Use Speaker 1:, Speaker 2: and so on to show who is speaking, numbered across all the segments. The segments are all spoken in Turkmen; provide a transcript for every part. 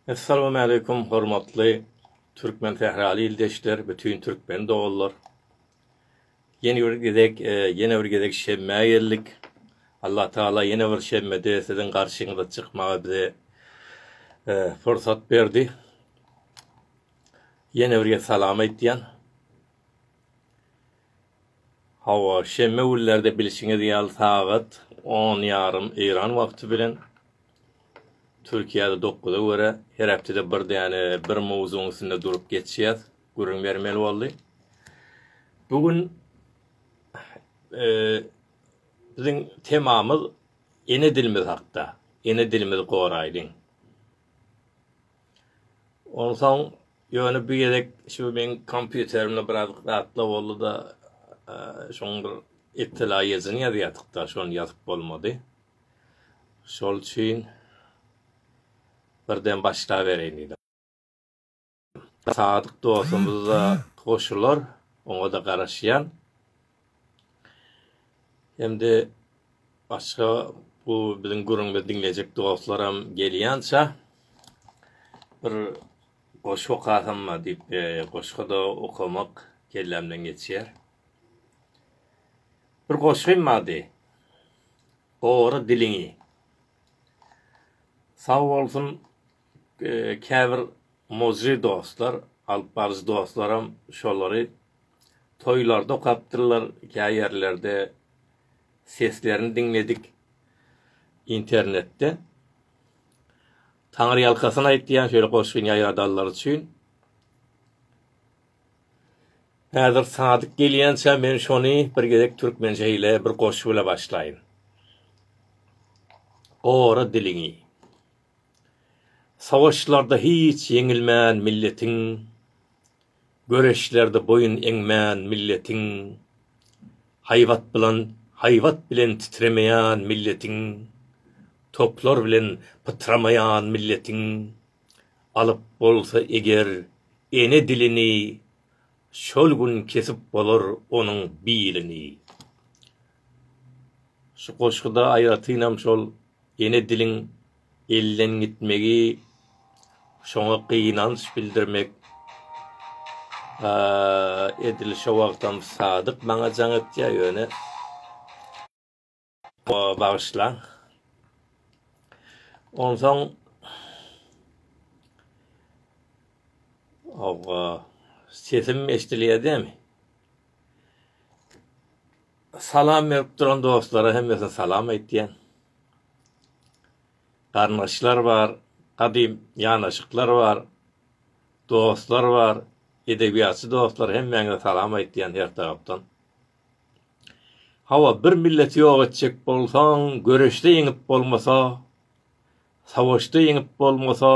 Speaker 1: Essalamu aleýkum hormatly türkmen sähraly ildeşler, bütin türkmen doganlar. Ýene bir gezek, e, ýene bir gezek şemmä geldik. Allah Taala ýene bir şemmede siziň garşyňyza çykmaga bize e, pursat berdi. Ýene bir gezek salam aýtýan. Hawa, şenbe günlerde bilşiňiz ýaly sagat on ýarym Eýran wagty bilen, Türkiýede dokuza görä, her hepdede bir däne bir mowzugyň üstünde durup geçýäs, gürrüň bermeli boldy. Bu gün e, biziň temamyz ene dilimiz hakda. Ene dilimizi goraýlyň. Onsoň ýöne bu gezek şu meň kompýuterimde biraz zatlar boldy-da, şoň bir iptela ýazyn ýazýardyk-da, şony ýazyp bolmady. Şol üçin birden başlabereýin diýdim. Sadyk dostumyz-da goşular, oňa-da garaşýan. Hem-de başga bu biziň gürrüňimizi diňleýjek dostlaram gelýänçä bir goşgy okasamma diýip, goşgy-da okamak kellämden geçýär. Bir goşgym bardy. Gora diliňi. Sag bolsun, käbir Muzji dostlar, alyp baryjy dostlaram şolary toýlarda okapdyrlar, kä ýerlerde seslerini diňledik internetde. Taňryýalkasyn aýtýan şeýle goşgyny ýaýradanlar üçin. Häzir Sadyk gelýänçä men şony bir gezek türkmençe heleý bir goşgy bile başlaýyn. Gora diliňi. Sowaşlarda hiç ýeňilmän milletiň, Göreşlerde boýun eňmän milletiň, Haýbat bilan haýbat bilen titremeýän milletiň, Toplar bilen pytramaýan milletiň, Alyp bolsa eger ene dilini, Şol gün kesip bolar onuň bilini. Şu goşguda aýratynam şol ene diliň elden gitmegi, şoňa gynanç bildirmek edil şo wagtam Sadyk maňa jaň etýär, ýöne bagyşlaň. Onsoň Hawa, sesim eşidilýär dämi? Salam berip duran dostlara hemmesine salam aýtýan. Garyndaşlar bar, gadym ýanaşyklar bar, dostlar bar, edebiýatçy dostlar hemmäňize salam aýtýan her tarapdan. Hawa bir milleti ýok etjek bolsaň göreşde ýeňip bolmasa, savaşda ýeňip bolmasa,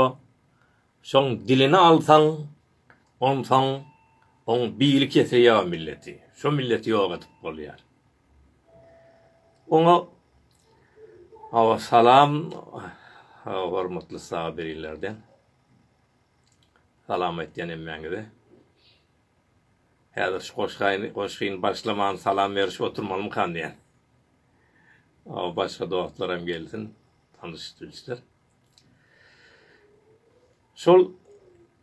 Speaker 1: Soň dilini alsaň, onsoň oň bili kese ýa milleti, şo milleti ýok edip bolýar. Oňa Hawa salam hormatly Sabirinlerden. Salam aýtýan hemmäňize. Häzir şu goşgaýny goşgyny başlaman salam berişip oturmalymykan diýän. Hawa başga dostlaram gelsin, tanyşyp bilişler. Şol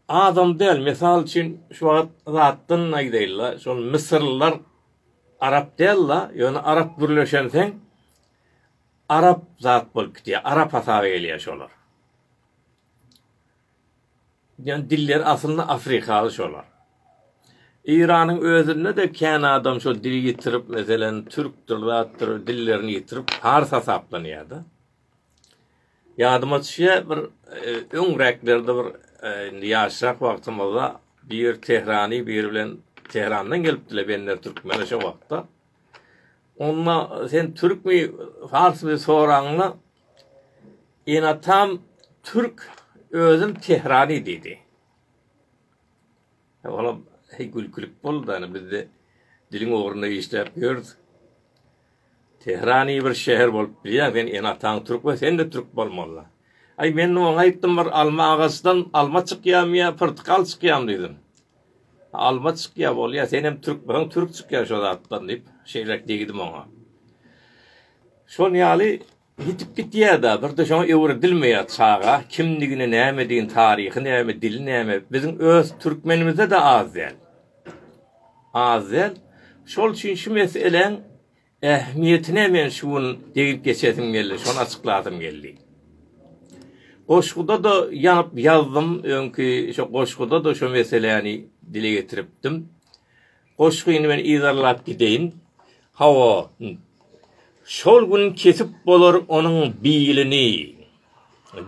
Speaker 1: azam däl. Mysal üçin, şu wagt zatdan aýdaýyl-la, şol Mysyrlylar arap däl-la, ýöne arap gürleşenseň, arap zat bolup gidýär, arap hasaba gelýär şolar. Ýöne dilleri aslynda afrikaly şolar. Eýranyň özünde-de kän adam şol dili ýitirip, meselem, türkdir, zatdyr, dillerini ýitirip, pars hasaplanýar-da. Ýadyma düşýär, bir öňräklerde bir indi ýaşrak wagtymyzda bir Tehrany biri bilen Tehrandan gelipdiler bender türkmene şo wagtda. Onda sen türkmi, farsmy soraňda enatam türk, özüm Tehrany diýdi. Olam gülkülik boldy, ýani bizde diliň ogrunda işläp ýörüs. Tehran iyi bir şeher bolup bilýär sen ene ataň türk we sen de türk bolmalyda. Ay men oňa aýtdym bir alma agaçdan alma çykýamy ýa pyrtykal çykýamy diýdim. Alma çykýa bolýa sen hem türk bolsaň türk çykýa şo zatdan diýip şeýlek diýdim oňa. Şol ýaly Ýitip gidýär-de, bir-de şoňa öwredilmeýär çaga, kimdigini, nämedigini, taryhy näme, dili näme, biziň öz türkmenimize-de az däl. Az däl. Şol üçin şu meseläň ähmiýetine men şu gün degip geçesim geldi, şony açyklasym geldi. Goşguda-da ýanyp ýazdym, öňki şo goşguda-da şo meseläni dile getiripdim. Goşgyny men yzarlap gideýin. Hawa. Şol gün kesip bolar onuň bilini.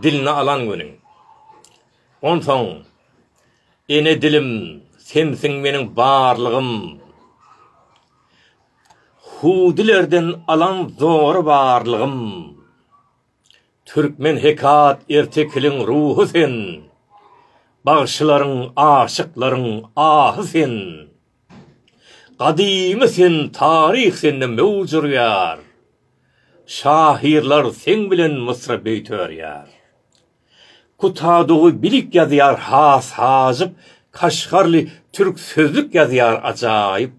Speaker 1: Dilini alan güni. Onsoň, Ene dilim, sensiň meniň barlygym. Hudilerden alan zora barlygym. Türkmen hekat ertekiliň ruhy sen, Bagşylaryň, aşyklaryň ahy sen. Gadymy sen, taryh sende möwç urýar, Şahyrlar seň bilen mysra-beýt örýär. Kutadowy bilik ýazýar has hajyp, Kaşgarly türk sözlük ýazýar ajaýyp.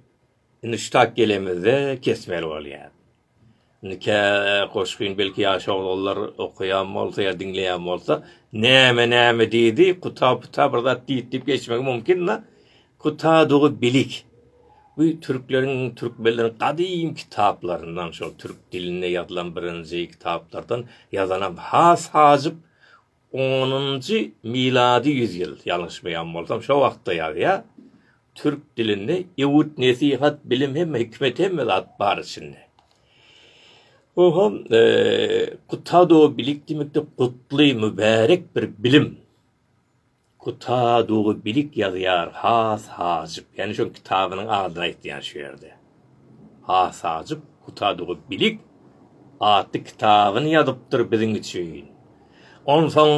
Speaker 1: Indi şu tak gelemizde kesmeli bolýar. Indi kä goşgyn belki ýaş oglanlar okaýan bolsa ýa diňleýän bolsa, näme näme diýdi, kuta puta bir zat diýdi diýip geçmegi mumkin-da. Kutadygy bilik. Bu türkleriň, türkmenleriň gadym kitaplaryndan, şol türk dilinde ýazylan birinji kitaplardan ýazanam has hajyp Onunjy milady ýüzýyl, ýalňyşmaýan bolsam, şo wagtda ýazýar. Türk dilinde ewüt, nesihat, bilim hemme, hikmet hemme zat bar içinde. Oho, eee, kutado bilik diýmekde gutly, mübärek bir bilim. Kutadowy bilik ýazýar has hajyp. Ýany şol kitabynyň adyny aýtýan şu ýerde. Has hajyp Kutadowy bilik atly kitabyny ýazypdyr biziň üçin. Onsoň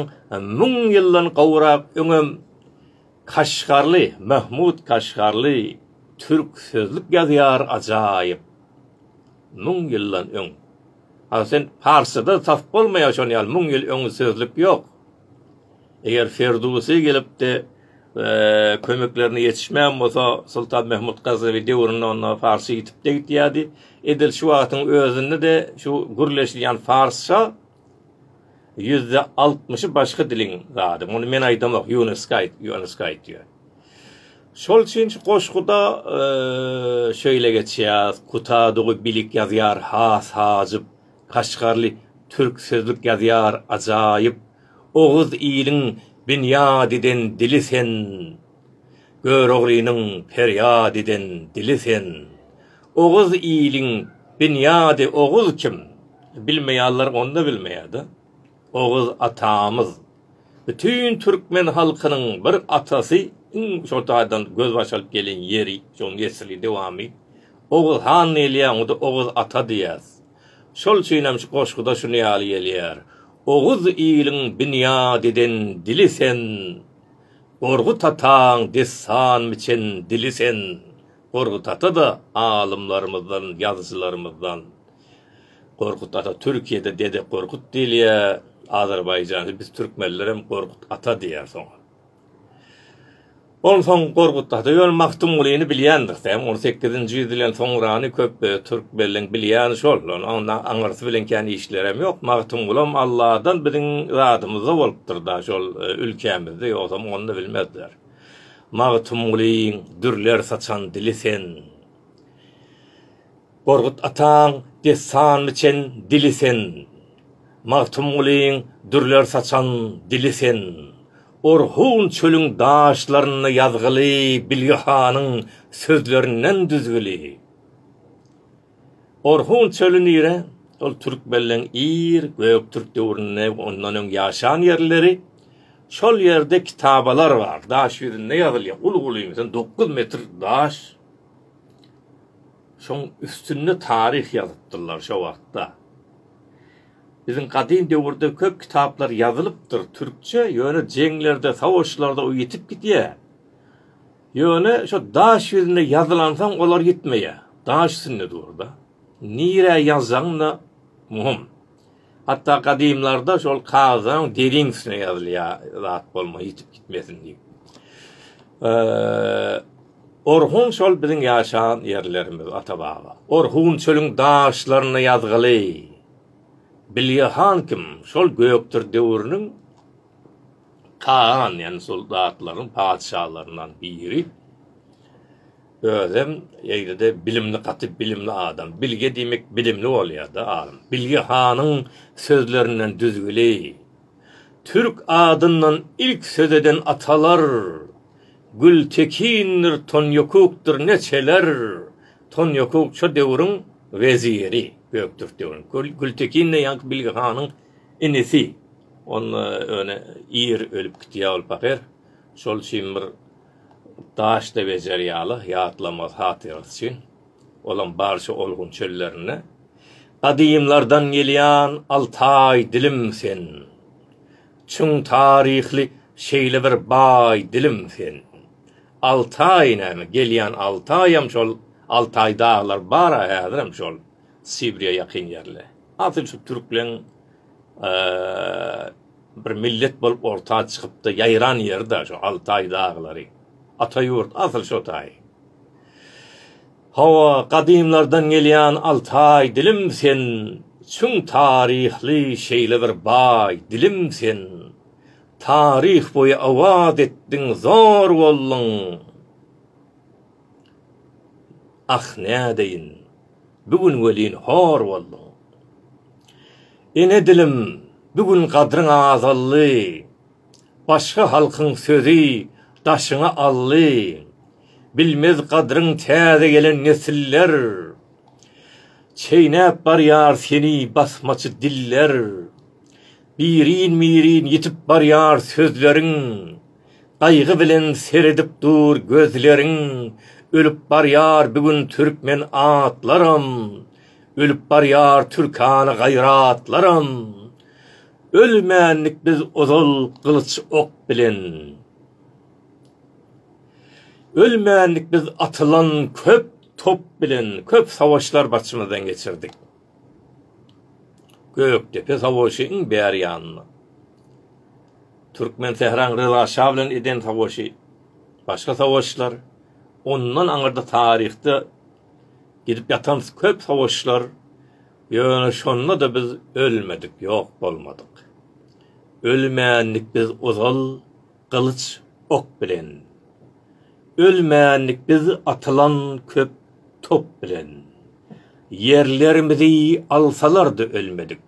Speaker 1: müň ýyldan gowrak öňem Kaşgarly, Mahmut Kaşgarly türk sözlük ýazýar ajaýyp. Müň ýyldan öň. Asyl parsçada tas bolmaýar şony ýaly müň ýyl öň sözlük ýok. Eger Ferdusy gelip-de kömeklerine ýetişmän bolsa, Soltan Mehmut Gaznawi döwründe onda Farsça ýitip-de gidýärdi. Edil şu wagtyň özünde-de şu gürleşilýän Farsça ýüzde altmyşy başga diliň zady. Muny men aýdamok, Ýunesko aýt, Ýunesko aýtýar. Şol üçin şu goşguda şeýle geçýär, Kutadugy bilik ýazýar has hajyp, Kaşgarly türk sözlük ýazýar ajaýyp Oguz iliň binýat eden dili sen Göroglynyň perýat eden dili sen Oguz iliň binýady oguz kim bilmeýaller onda bilmeýada Oguz atamyz, bütin türkmen halkynyň bir atasy iň şol taýdan gözbaş alyp gelen ýeri, şol nesli, dowamy. Oguz han diýilýär, onda Oguz ata diýýäs. Şol üçin hem şu goşguda şuny ýaly gelýär, Oguz iliň binýat eden dili sen, Gorgut ataň dessan biçen dili sen. Gorgut ata-da alymlarymyzdan, ýazyjylarymyzdan. Gorkut ata Türkiýede Dede Gorkut diýilýär, Azerbaýjany biz türkmenlerem Gorkut ata diýýär soň. Onsoň Gorkut ata ýöne Magtymgulyny bilýändir sen, on sekizinji ýüz bilen soňrany köp türkmenleň bilýäni şol, onda aňyrsy bilen kän işlerem ýok, Magtymgulam Alladan biziň zadymyzda bolupdyr da şol ülkämizde, ýogsam onda bilmezler. Magtymgulyň dürler saçan dili sen. Gorkut ataň dessanly çen dili sen, Magtymgulyň dürler saçan dili sen, Orhun çölüň daşlarynda ýazgyly Bilge hanyň sözlerinden düzgüli. Orhun çöli nire? Ol türkmenleň ir Göktürk döwründe we ondan öň ýaşan ýerleri. Şol ýerde kitabalar bar. Daş ýüzünde ýazylýar. Uly-uly, meselem, dokuz metr daş. Şoň üstünde taryh ýazypdyrlar şo wagtda. Biziň gadym döwürde köp kitaplar ýazylypdyr türkçe, ýöne jeňlerde, sowaşlarda o ýitip gidýä. Ýöne şo daş ýüzünde ýazylansoň olar ýitmeýä. Daş üstünde dur-da. Nirä ýazjagyň-da muhym. Hatda gadymlarda şol kagyzlaryň deriň üstüne ýazylýar zat bolma ýitip gitmesin diýip. Orhun şol biziň ýaşan ýerlerimiz ata-baba. Orhun çölüň daşlaryna ýazgyly. Bilge han kim? Şol Gökdir döwrüniň kagan, ýagny soldatlaryň patyşalaryndan biri. Özem eýlede bilimli gaty bilimli adam. Bilge diýmek bilimli bolýada alym. Bilge hanyň sözlerinden düzgüli. Türk adyndan ilk söz eden atalar Gültekindir Tonýokukdyr neçeler Tonýokuk şo döwrüň weziri Göktürk döwrüniň. Gültekin-de ýaňky Bilge hanyň inisi. Onda öne ir ölüp gitýä ol pahyr. Şol üçin bir Daşda bejer ýaly ýatlamaz hatyrasy üçin, olam barça olgun çöllerinde Gadymlardan gelýän Altaý dilim sen, Çuň taryhly şeýle bir baý dilim sen. Altaý näme, gelýän Altaýam şol, Altaý daglar bar-a häzirem şol, Sibirýa ýakyn ýerli. Asyl şu türkleň, Bir millet bolup orta çykypda ýaýran ýerida şu Altaý daglary. Ata ýurt asyl şo taý. Hawa, gadymlardan gelýän Altaý dilim sen, çuň taryhly şeýle bir baý dilim sen. Taryh boýy owaz etdiň zor bolduň. Ah nädeýin. Bu gün welin hor bolduň. Ene dilim, bu gün gadryň azaldy, Başga halkyň sözi daşyňy aldy, Bilmez gadryň täze gelen nesiller, Çeýnäp barýar seni basmaçy diller. Birin-birin ýitip barýar sözleriň. Gaýgy bilen seredip dur gözleriň Ölüp barýar bu gün türkmen atlaram Ölüp barýar türkana gaýratlaram Ölmändik biz ozal gylyç ok bilen Ölmändik biz atylan köp top bilen Köp sawaşlar barçymyzdan geçirdik. Gökdepe savaşy iň bäri ýanynda. Türkmensähraň Ryza şa bilen eden savaşy, başga savaşlar, ondan aňyrda taryhda gidip ýatan köp savaşlar, ýöne şonda-da biz ölmedik, ýok bolmadyk. Ölmändik biz ozal, gylyç ok bilen. Ölmändik biz atylan köp top bilen. Ýerlerimizi alsalar-da ölmedik.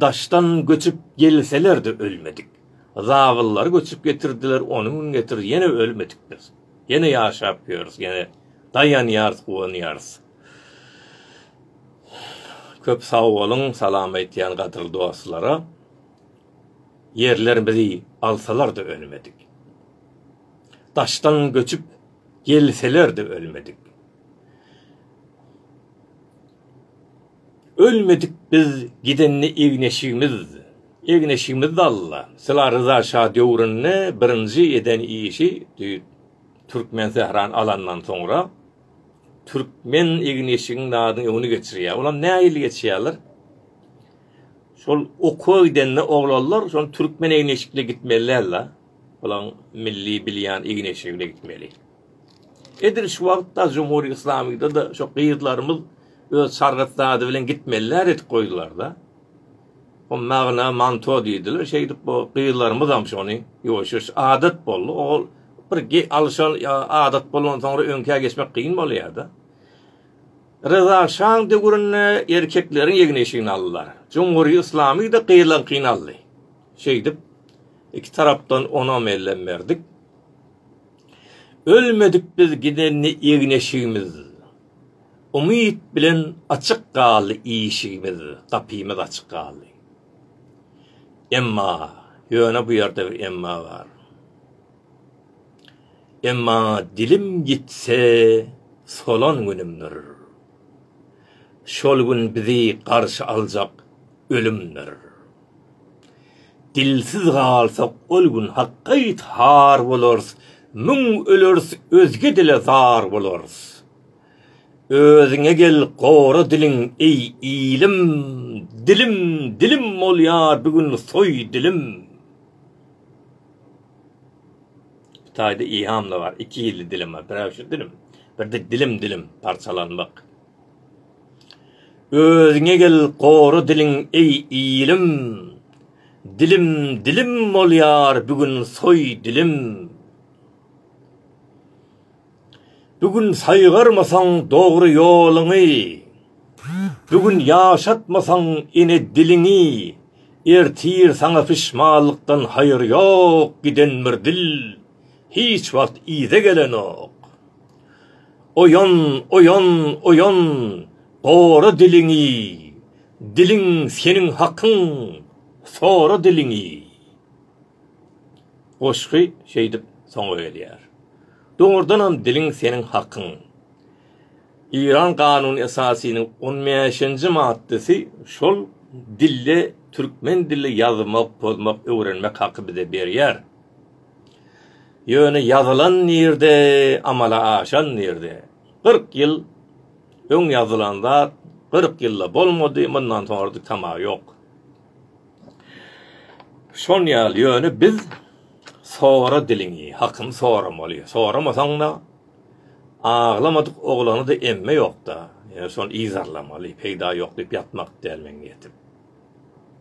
Speaker 1: Daşdan göçüp gelseler-de ölmedik. Zabyllar göçüp getirdiler, ony gün getirdi, ýene ölmedik biz. Ýene ýaşap ýörüs, ýene daýanýarys, guwanýarys. Köp sag boluň, salam aýtýan gadyrly dostlara. Ýerler bizi alsalar-da ölmedik. Daşdan göçüp gelseler-de ölmedik. Ölmedik biz gidende egneşigimiz, egneşigimiz-de Alla. Syla Ryza şa döwründe birinji eden işi Türkmensährany alandan soňra türkmen egneşigiň adyny öňüni geçirýär. Olam nähili geçýärler? Şol okuwa gidende oglanlar şol türkmen egin-eşikli gitmeli däl da. Olaň milli bilýän egin-eşigli gitmeli. Edil şu wagt da Jumhur Islamyda da şo gyzlarymyz öz sargyt zady bilen gitmeli däl edip goýdular da. O magna manto diýdiler. Şeýdip bu gyzlarymyz hem şony ýuwaş-ýuwaş adat boldy. Ogul bir ge alşan adat bolansoň öňkä geçmek kyn bolýar da. Ryza şaň döwründe erkekleriň egin-eşigini aldylar. Cumhuriýet Yslamy-da gyzyňkyny aldy. Şeýdip, iki tarapdan onam ellem berdik. Ölmedik biz gidende egin-eşigimiz, Umyt bilen açyk galdy işigimiz, gapymyz açyk galdy. Emma, ýöne bu ýerde bir emma bar. Emma dilim ýitse solan günümdir. Şol gün bizi garşy aljak ölümdir. Dilsiz galsak ol gün hakgaýt har bolarys, müň öleris özge dile zar bolarys. Özüňe gel gora diliň eý ilim, dilim dilim bolýar bigün soý dilim. Hytaýda ihamda bar, iki ýilli dilim bar, bir äwje dilim, birde dilim dilim parçalanmak. Özüňe gel gora diliň eý ilim, dilim dilim bolýar bigün soý dilim. Bu gün saýgarmasaň dogry ýoluňy, Bu gün ýaşatmasaň ene diliňi, Ertir saňa pişmanlykdan haýyr ýok, Giden bir dil hiç wagt yza gelenok. Oýan, oýan, oýan, gora diliňi, Diliň seniň hakyň, sora diliňi. Goşgy şeýdip soňa gelýär. Dogrudanam diliň seniň hakyň. Eýran Kanuny Esasynyň on bäşinji maddasy şol dilde türkmen dilli ýazmak, pozmak, öwrenmek haky bize berýär. Ýöne ýazylan nirde, amala aşan nirde? Kyrk ýyl öň ýazylan zat kyrk ýylda bolmady, mundan soňra-da tama ýok. Şon ýaly, ýöne biz Sora diliňi, hakyny soramaly. Soramasaň-da, aglamadyk oglany-da emme ýok-da, ýöne şony yzarlamaly. Peýda ýok diýip ýatmak däl meň niýetim.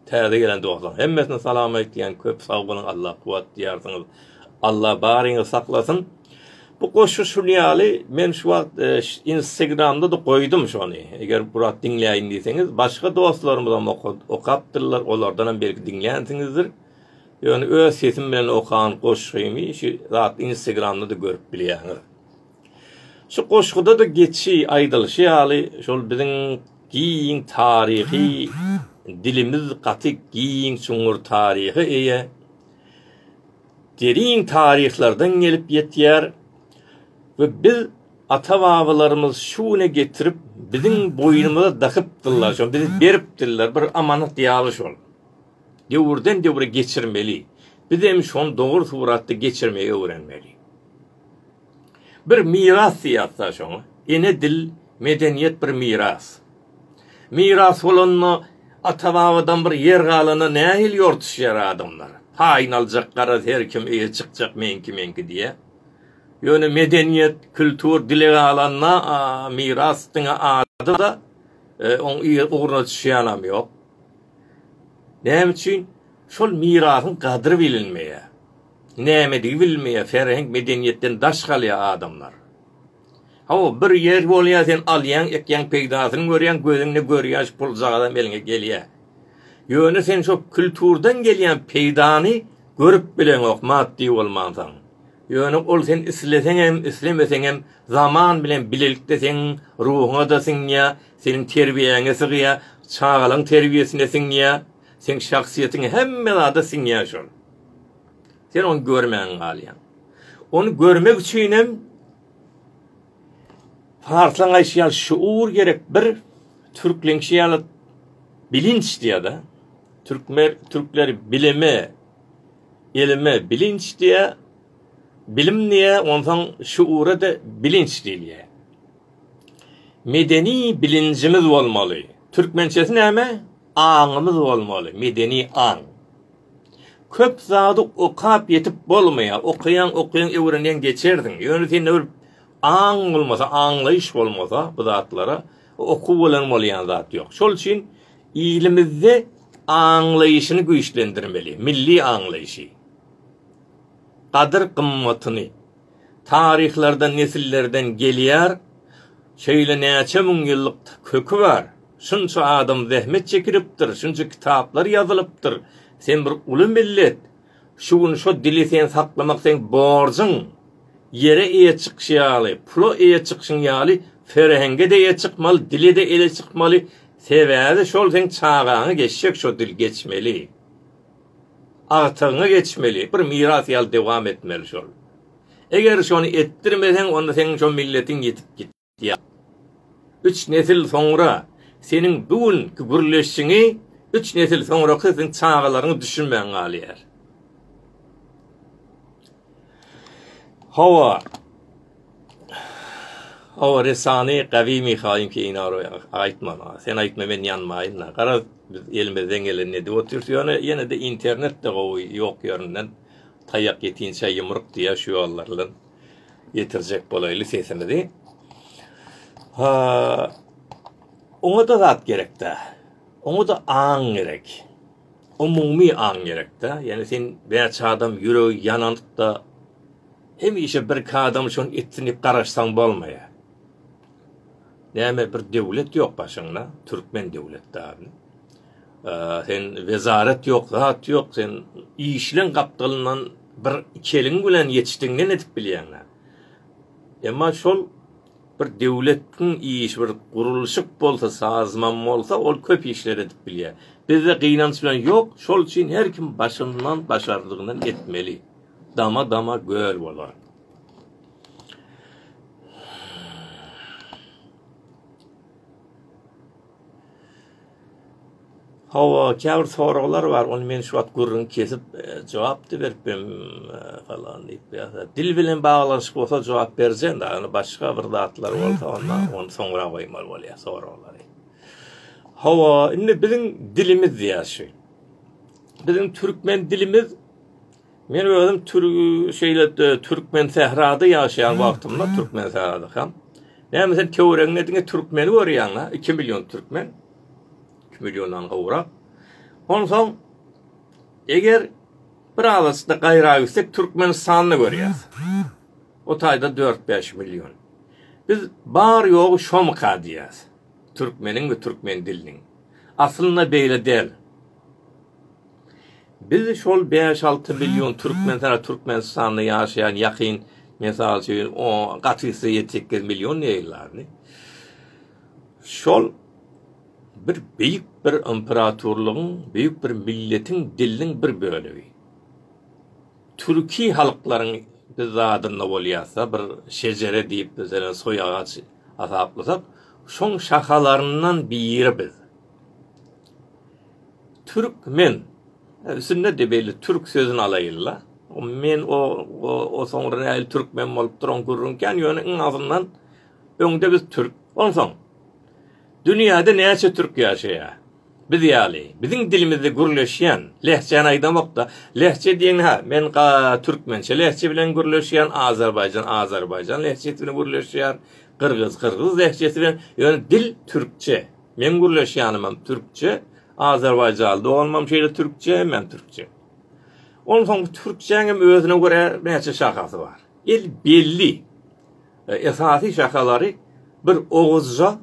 Speaker 1: Täze gelen dostlaryň hemmesine salam aýtýan, köp sag boluň, Alla kuwwat diýýärsiňiz. Alla baryňyzy saklasyn. Bu goşgy şuny ýaly, men şu wagt Instagramda-da goýdum şony. Eger bu rat diňläýin diýseňiz, başga dostlarymyzam okapdyrlar, olardanam belki diňlänsiňizdir. Ýöne öz sesim bilen okan goşgymy şu zat Instagramda-da görüp bilýäňiz. Şu goşguda-da geçi aýdylyşy ýaly, şol biziň giň taryhy dilimiz gaty giň çuňňur taryha eýe. derin taryhlardan gelip ýetýär we biz ata-babalarymyz şu güne getirip biziň boýnumyza dakypdyrlar, şony bize beripdirler, bir amanat ýaly şol. Döwürden döwre geçirmeli. Biz hem şony dogry suratda geçirmegi öwrenmeli. Bir miras diýýäs-dä şoňa. Ene dil, medeniýet bir miras. Miras bolanda ata-babadan bir ýer galanda nähili ýortuşýar adamlar? Paýyny aljak garaz her kim eýe çykjak meňki-meňki diýýä. Ýöne medeniýet, kültur dile galanda miras diňe ady-da, oň ugruna düşýänem ýok. Näme üçin? Şol mirasyň gadry bilinmeýär. Nämedigi bilmeýär, serheň medeniýetden daş galýar adamlar. Hawa, bir ýer bolýar sen alýaň, ekýäň peýdasyny görýäň, gözüňde görýäş puljagazam eliňe gelýär. Ýöne sen şo külturdan gelýän peýdany görüp bileňok maddy bolmansaň. Ýöne ol sen isleseňem, islemeseňem zaman bilen bilelikde seň ruhuňada siňýär, seniň terbiýäňe sygýar, çagalaň terbiýesine siňýär, seň şahsyýetiň hemme zada siňýär şol. Sen ony görmän galýaň. Ony görmek üçin hem Farslaň aýşy ýaly şuur gerek bir türkleňşi ýaly bilinç diýýär-de. Türkmen türkler bilime elime bilinç diýe, bilim diýe, onsoň şuura-da bilinç diýilýär. Medeni bilinjimiz bolmaly. Türkmençesi näme? Aňymyz bolmaly, medeni aň. Köp zady okap ýetip bolmaýar. Okaýaň, okaýaň, öwrenýäň geçersiň. Ýöne sende bir aň bolmasa, aňlaýyş bolmasa bu zatlara, okuw bilen bolýan zat ýok. Şol üçin ilimizde aňlaýyşyny güýçlendirmeli, milli aňlaýyşy, gadyr-gymmatyny, Taryhlardan nesillerden gelýär. Şeýle näçe müň ýyllyk köki bar. Şunça adam zähmet çekilipdir, şunça kitaplar ýazylypdyr. Sen bir uly millet. Şu gün şo dili sen saklamak seň borjuň. Ýere eýe çykyş ýaly, pula eýe çykyşyň ýaly ferhenge-de eýe çykmaly, dile-de eýe çykmaly. Sebäbi şol seň çagaňy geçjek şo dil geçmeli. Agtygyňa geçmeli, bir miras ýaly dowam etmeli şol. Eger şony etdirmeseň, onda seň şo milletiň ýitip gitýär. Üç nesil soňra seniň bu günki gürleşiňi üç nesil soňraky seniň çagalaryňyz düşünmän galýar. Hawa. O resany gawy Mihaýyň keýnary aýtmana. Sen aýtma men ýanmaýyn-da. Garaz biz elimizden gelenini edip otyrys. Ýöne ýene-de internet-de gowy ýok ýerinden taýak ýetinçä ýumruk diýýär şu ýollardan ýetirjek bolaýly sesimizi. Ha oňa-da zat gerek-dä. Oňa-da aň gerek. Umumy aň gerek-dä. Ýöne sen bäçe adam ýüregi ýananyp-da Hemişe birki adam şony etsin diýip garaşsaň bolmaýar. Näme bir döwlet ýok başyňda, türkmen döwletdaryny. Sen wezaret ýok, zat ýok, sen işleň gapdalyndan bir iki eliň bilen ýetişdiň ne edip bilýäň? Emma şol bir döwletiň işi bir gurulşyk bolsa, sazman bolsa, ol köp işler edip bilýär. Bizde gynanç bilen ýok, şol üçin her kim başyndan başardygyndan etmeli. Dama-dama göl bolar. Hawa, käbir soraglar bar, ony men şu wagt gürrüň kesip, e, jogap-da berip bem, e, falan diýip, ýa-da dil bilen baglanyşyk bolsa jogap berjeň-de, ýöne başga bir zatlar bolsa, onda ony soňra goýmaly bolýar soraglary. Hawa, indi biziň dilimiz ýa-da şu. Biziň türkmen dilimiz Men özüm türk şeyle Türkmen Sährada yaşayan wagtymda Türkmen Sährada hem. Näme sen töweregiňde diňe türkmeni görýäň-a? 2 million türkmen. 2 milliondan gowrak. Onsoň eger bir alasda gaýra gitsek Türkmenistanda görýäs. O taýda 4-5 million. Biz bar ýogy şomka diýýäs. Türkmeniň we türkmen diliniň. Aslynda beýle däl. Biz şol bäş-alty million türkmen sana Türkmenistanda ýaşaýan ýakyn mysal üçin o gatysy ýedi sekiz million diýilýärdi. Şol bir beýik bir imperatorlygyň, beýik bir milletiň diliniň bir bölegi. Türki halklaryň biz zadynda bolýarsa bir şejere diýip bize soý agaç hasaplasak, şoň şahalaryndan biri biz. Türkmen. Sünnedi belli türk sözüni alaýyl-la. O men o o soňra nähili türkmen bolupdyr oň gürrüň kän ýöne iň azyndan öňde biz türk. Onsoň dünýäde näçe türk ýaşaýar? Biz ýaly. Biziň dilimizde gürleşýän. Lehjäni aýdamok-da. Lehje diýen hä men ga türkmençe lehje bilen gürleşýän Azerbaýjan Azerbaýjan lehjesi bilen gürleşýär. Gyrgyz Gyrgyz lehjesi bilen ýöne dil türkçe. Meň gürleşýänimem türkçe, azerbaýjaly doganymam şeýle türkçe, hemmäm türkçe. Onsoň bu türkçäňem özüne görä näçe şahasy bar. El belli. E, esasy şahalary bir oguzja,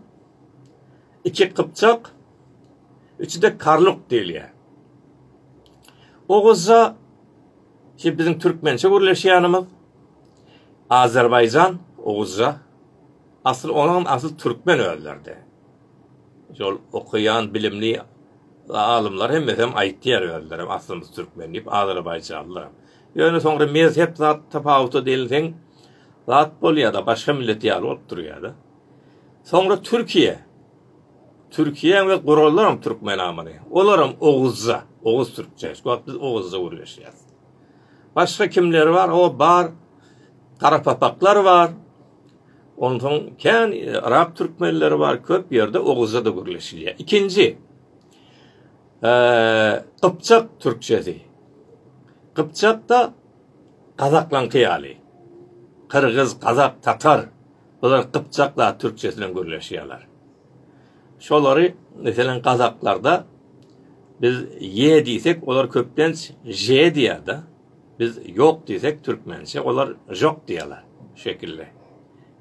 Speaker 1: iki kypçak, üçde karluk diýilýär. Oguzja ki biziň türkmençe gürleşýänimiz Azerbaýjan, Oguzja, Asyl olam asyl türkmen özleride. Şol okaýan bilimli alymlar hemmesem aýtýar özlerem aslymyz türkmen diýip azerbaýjanlylaram. Ýöne soňra mezhep zat tapawuty diýilseň zat bolýada başga millet ýaly bolup durýada. Soňra Türkiýe Türkiýe we gurallarym türkmen amany. Olaram oguzca, oguz türkçe. Şu wagt biz oguzca gürleşýäs. Başga kimler bar? O bar. Garapapaklar bar. Onsoň kän arap türkmenleri bar, köp ýerde oguzja-da gürleşilýär. Ikinji, gypjak türkçesi. Gypjak-da gazaklaňky ýaly. Gyrgyz, gazak, tatar, bular gypjak zat türkçesi bilen gürleşýärler. Şolary, meselem, gazaklarda biz ýe diýsek, olar köplenç je diýýär-de. Biz ýok diýsek türkmençe olar žok diýýärler. Şu şekilde.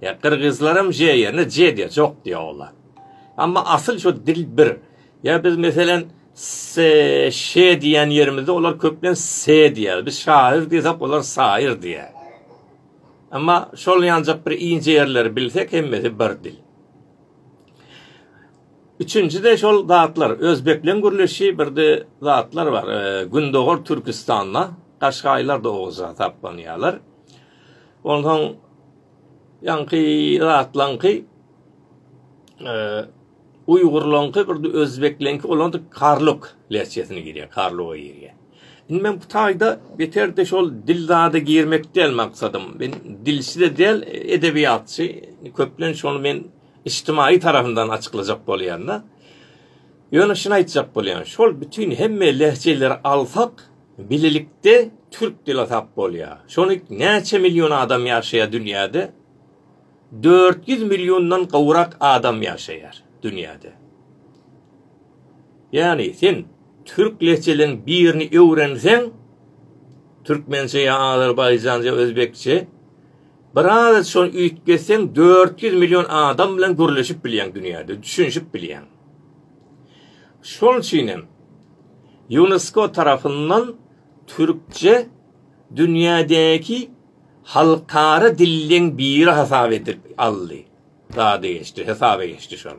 Speaker 1: Ýa gyrgyzlaram ž ýerine j diýýär, jok diýýär olar. Amma asyl şu dil bir. Ýa biz meselen s ş diýýän ýerimizde olar köplen s diýýär. Biz şaýyr diýsek olar saýyr diýýär. Emma şol ýanjak bir inje ýerleri bilsek hemmesi bir dil. Üçünjide şol zatlar özbekleň gürleşi birde zatlar bar gündogar türkistanda gaşgaýlar da oguz hasaplanýalar onsoň ýaňky zatlaňky uýgurlaňky birde özbekleňki olar da karluk lehçesine girýär karluga girýär indi men bu taýda beterde şol dil zady girmek däl maksadym men dilçi-de däl edebiýatçy köplenç şony men Ijtimaýy tarapyndan açyklajak bolýanda, ýöne şuny aýtjak bolýan, şol bütin hemme lehjeleri alsak, bilelikde türk dili tap bolýar. Şony näçe million adam ýaşaýar dünýäde? Dört ýüz milliondan gowrak adam ýaşaýar dünýäde. Ýagny, sen türk lehjeleriň birini öwrenseň, türkmençe ýa azerbaýjanja, özbekçe, Biraz şony üýtgetseň dört ýüz million adam bilen gürleşip bilýäň dünýäde, düşünişip bilýäň. Şol üçin hem Ýunesko tarapyndan türkçe dünýädäki halkara dilleň biri hasap edip aldy. Zady geçdi, hesaba geçdi şol.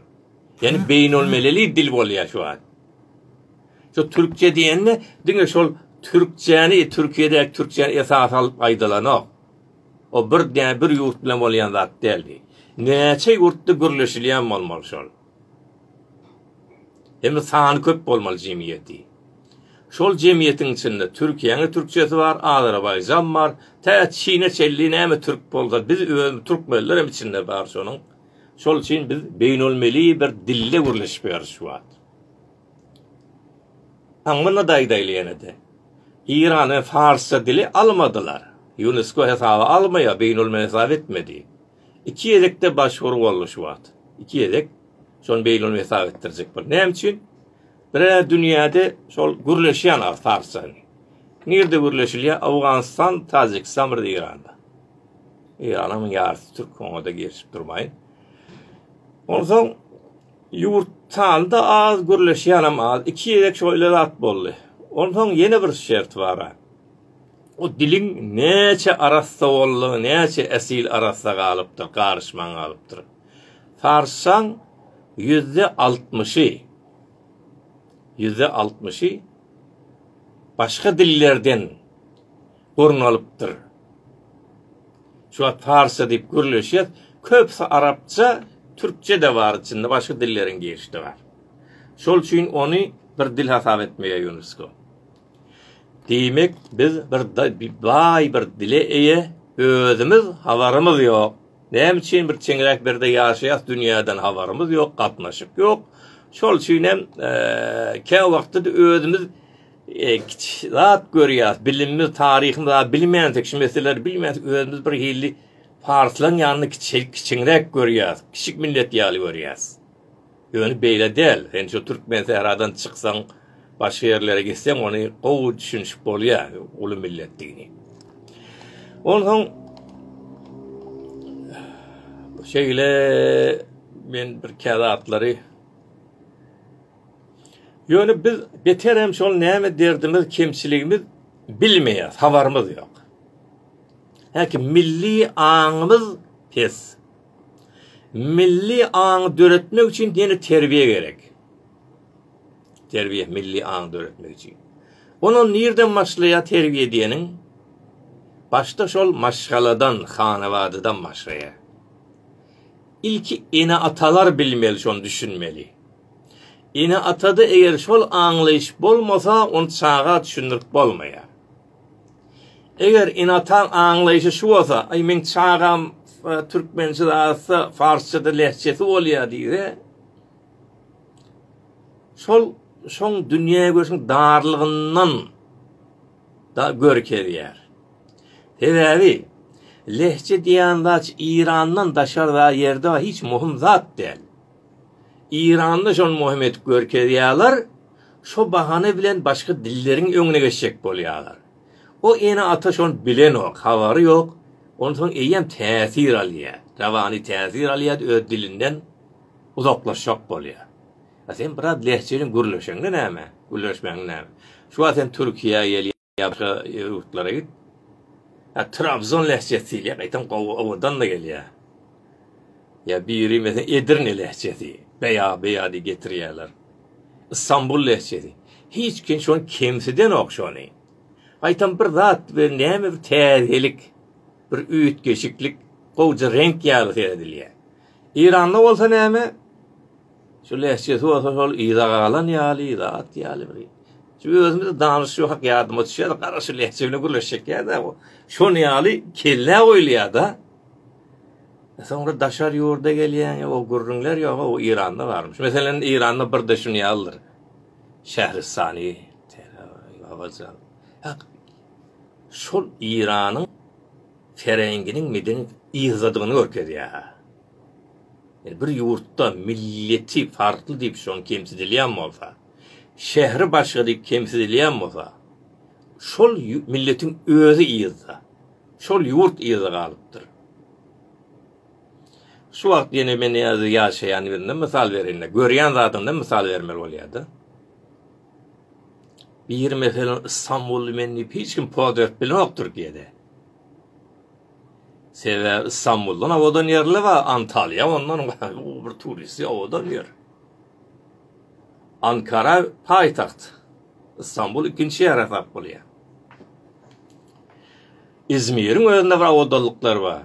Speaker 1: Ýani beýnelmileli dil bolýar şu wagt. Şu türkçe diýende diňe şol türkçäni Türkiýede türkçäni esas alyp aýdylanok. O birde bir ýurt bilen bolýan zat däldi. Näçe ýurtda gürleşilýän bolmaly şol. Hem-de sany köp bolmaly jemgyýeti. Şol jemgyýetiň içinde Türkiýäň-ä türkçesi bar, Azerbaýjan bar, tä Çine çenli näme türk bolsa biz özümiz türkmenler hem içinde bar şonuň. Şol üçin biz beýnelmilli bir dilde gürleşip ýörüs şu wagt. A muny-da aýdaýly ýene-de. Irany farsça dili almadylar. Ýunesko hesaba almaýar, beýnulmilli hesap etmedi. Iki gezek-de başwur boldy şu wagt. Iki gezek şony beýnulmilli hesap etdirjek boldy. Näme üçin? Birä dünýäde şol gürleşýän az farsça. Nirede gürleşilýär? Owganystan, Tajikistan, bir-de Iranda. Iranyň ýarysy türk, oňa-da girişip durmaýyn. Onsoň Ýurt sany-da az, gürleşýänem az. Iki gezek şoýle zat boldy. Onsoň ýene bir şert bar-a. O diliň näçe arassa boldugy, näçe esil arassa galypdyr, garyşman galypdyr. Sarssaň, ýüzde altmyşy, ýüzde altmyşy başga dillerden orun alypdyr. Şu wagt parsça diýip gürleşýär. Köpüsi arapça, türkçe-de bar içinde, başga dilleriň girişi-de bar. Şol üçin ony bir dil hasap etmeýär UNESCO. Diýmek, biz bir baý bir dile eýe, özümiz habarymyz ýok. Näme üçin bir çeňräk berde ýaşaýas, dünýäden habarymyz ýok, gatnaşyk ýok. Şol üçin hem e, kä wagtda özümiz Kiçi zat görýäs, bilimimiz, taryhymyz az bilmändik, şu meseleleri bilmändik, özümiz bir hili parslan ýanyny kiçi, kiçiňräk görýäs, kiçik millet ýaly görýäs. Ýöne beýle däl, sen şu türkmen sähradan çyksaň, başga ýerlere gitseň, ony gowy düşünişip bolýar, uly milletdigini. Onsoň şeýle men bir käzatlary Ýöne biz beterem şol näme derdimiz, kemçiligimiz bilmeýäs, habarymyz ýok. Häki milli aňymyz pes. Milli aňy döretmek üçin ýene terbiýe gerek. Terbiýe milli aňy döretmek üçin. Onuň nirden başlaýar terbiýe diýeniň? Başda şol maşgaladan, hanabadadan başlaýar. Ilki ene-atalar bilmeli şony düşünmeli. Ene-atada eger şol aňlaýyş bolmasa ony çaga düşündirip bolmaýar. Eger ene-ataň aňlaýyşy şu bolsa, aý meň çagam türkmençe zatsa farsçada lehçesi bolýar diýse, şol şoň dünýägörşüň darlygyndan, da görkezýär. Sebäbi lehje diýýän zat Irandan daşarda ýerde hiç muhim zat däl. Iranda şony muhim edip görkezýärler, şo bahana bilen başga dilleriň öňüne geçjek bolýarlar. O ene ata şony bilenok, habary ýok, onsoň eýýäm täsir alýar, rawany täsir alýar öz dilinden uzaklaşjak bolýar. A sen biraz lehjeliň gürleşeňde näme? Gürleşmäňde näme? Şu wagt sen Türkiýä gel ýa başga ýurtlara git. A Trabzon lehjesi diýilýär, gaýtam gowy owadan-da gelýär. Ýa biri mesen Edirne lehjesi, beýa beýa diýip getirýärler. Istanbul lehjesi. Hiç kim şony kemsidenok şony. Gaýtam bir zat we näme bir täzelik, bir üýtgeşiklik, gowja reňk ýaly seredilýär. Iranda bolsa näme? Şu lehjesi bolsa şol yza galan ýaly, yza at ýaly bir. Şu özümiz danyşyp hak ýadyma düşýär, gara şu lehje bilen gürleşjek ýa-da bu. Şon ýaly kellä goýulýar-da. E, soňra daşary ýurda gelýän, o gürrüňler ýok, o Iranda barmyş. Meselem, Iranda bir de şun ýalydyr. Şähristany, Şol Iranyň ferengiň meden yzdadygyny görkezýär. Ýani bir ýurtda milleti farkly diýip şoň kemsidilýän bolsa, şähri başga diýip kemsidilýän bolsa, şol milletiň özi yzda, şol ýurt yzda galypdyr. Şu wagt ýene men ýa-da ýaşaýan ýerinden mysal bereýin-le, görýän zadyndan mysal bermeli bolýar-da. Biri meselem Istanbully men diýip hiç kim poz berip bilenokdyr diýeli. Sebäbi Stambuldan owadan ýerler bar, Antalýa ondan uly bir turisti owadan ýer. Ankara paýtagt, Stambul ikinji şäher hasap bolýar. Izmiriň özünde bir owadanlyklar bar.